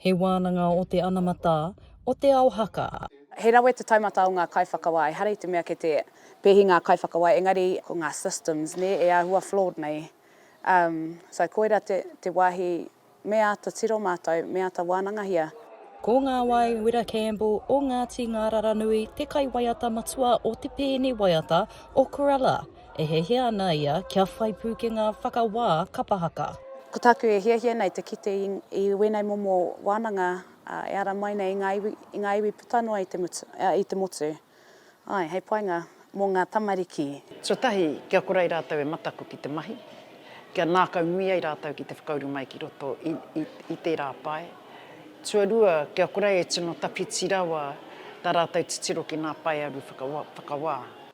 He wānanga o te anamata, o te ao haka. He rawe te taumata o ngā kaiwhakawā, ehara i te mea kei te pēhi ngā kaiwhakawā, engari ko ngā systems nē e āhua flawed nei. Um, so koira te, te wāhi me āta tiro mātou, me āta wānangahia. Ko Ngāwai Wira Campbell o Ngāti Ngāraranui te kaiwaiata matua o te pēne waiata o Kurella. e hiahia ana ia kia whai pūkenga whakawā kapa haka. Ko tāku e hiahia nei te kite i wēnei momo wānanga e ara mai nei i ngā iwi puta noa i te motu, āe, hei painga mō ngā tamariki. Tuatahi, kia kore ai rātou e mataku ki te mahi, kia nākau nui ai rātou ki te whakauru mai ki roto i tērā pae. Tuarua, kia kore ai e tino tawhiti rawa tā rātou titiro ki ngā paearu whakawā.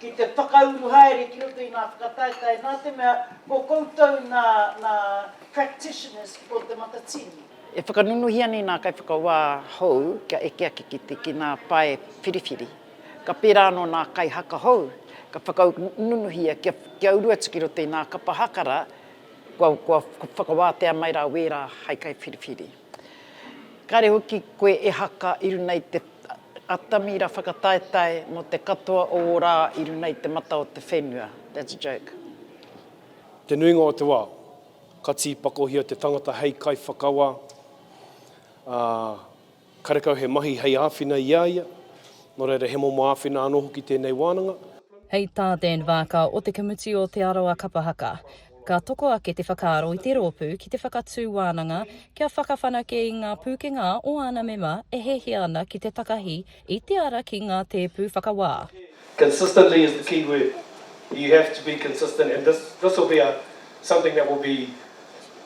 ki te whakauru haere ki roto i ngā whakataetae nā te mea ko koutou nā, nā practitioners o te matatini. E whakanunuhia nei nā kaiwhakawā hou kia eke ake ki te ki ngā pae whiriwhiri. Ka pērā anō nā kaihaka hou ka whakanunuhia kia, kia uru atu ki roto i ngā kapa haka rā kua, kua whakawātea mai rā wērā hai kaiwhiriwhiri. Kāre hoki koe e haka i runa i te atamira whakataetae mo te katoa o o rā i runa i te mata o te whenua. That's a joke. Te nuinga o te wa, ka tiipakohia te tangata hei kaiwhakawa, a, karekau he mahi hei āwhina i a ia, no reira he momo āwhina ano hoki tēnei wānanga. Hei tā Dan Vaaka o Te Kamuti o Te Arawa Kapa Haka, Ka toko ake te whakaaro i te rōpū ki te whakatū wānanga kia whakawhanake i ngā pūkenga o āna mema e hiahia ana ki te takahi i te ara ki ngā tēpu whakawā. Consistently is the key word. You have to be consistent and this this will be a something that will be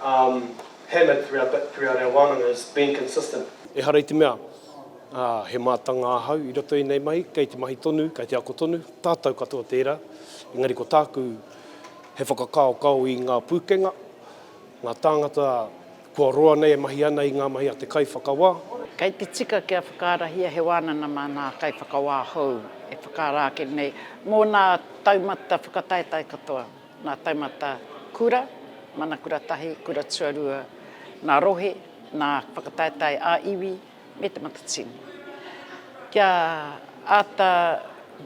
um hammered throughout the throughout our wānanga is being consistent. Ehara i te mea, ā, he mātanga ahau i roto i ēnei mahi, kei te mahi tonu, kei te ako tonu, tātou katoa tērā, engari ko tāku. He whakakaokao i ngā pūkenga, ngā tāngata kua roa nei e mahi ana i ngā mahi a te kaiwhakawā. Kei te tika kia whakaarahia he wānanga mā ngā kaiwhakawā hou e whakaara ake nei mō ngā taumata whakataetae katoa, ngā taumata kura, mana kura tahi, kura tuarua, ngā rohe, ngā whakataetae ā-iwi, me te matatini, kia āta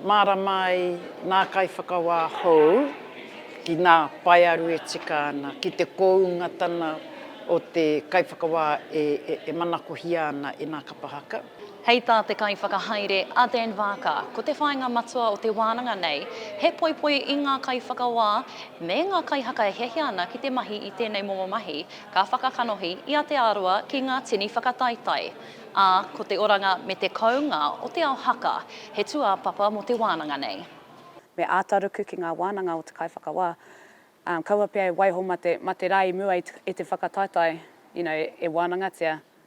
mārama ai ngā kaiwhakawā hou ki ngā paearu e tika ana, ki te koungatanga o te kaiwhakawā e manakohia ana e ngā kapa haka. Hei tā te kaiwhakahaere a Dan Vaaka, ko te whāinga matua o te wānanga nei he poipoi i ngā kaiwhakawā me ngā kaihaka e hiahia ana ki te mahi i tēnei momo mahi Ka whakakanohi i Aotearoa ki ngā tini whakataetae, ā, ko te oranga me te kounga o te ao haka he tūāpapa mō te wānanga nei. Me āta ruku ki ngā wānanga o te kaiwhakawā, ā, kaua pea e waiho mā te rā i mua i te whakataetae, you know, e wānangatia.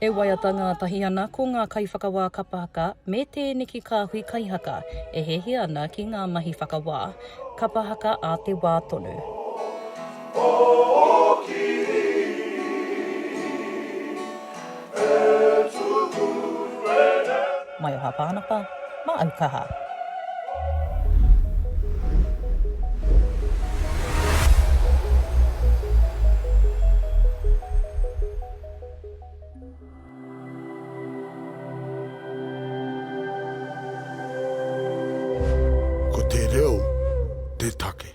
E waiata ngātahi ana ko ngā kaiwhakawā kapa haka me tēneki kāhui kai haka e hiahia ana ki ngā mahi whakawā kapa haka a te wā tonu. Maioha Pānapa, ma au kaha. Ko te reo te take.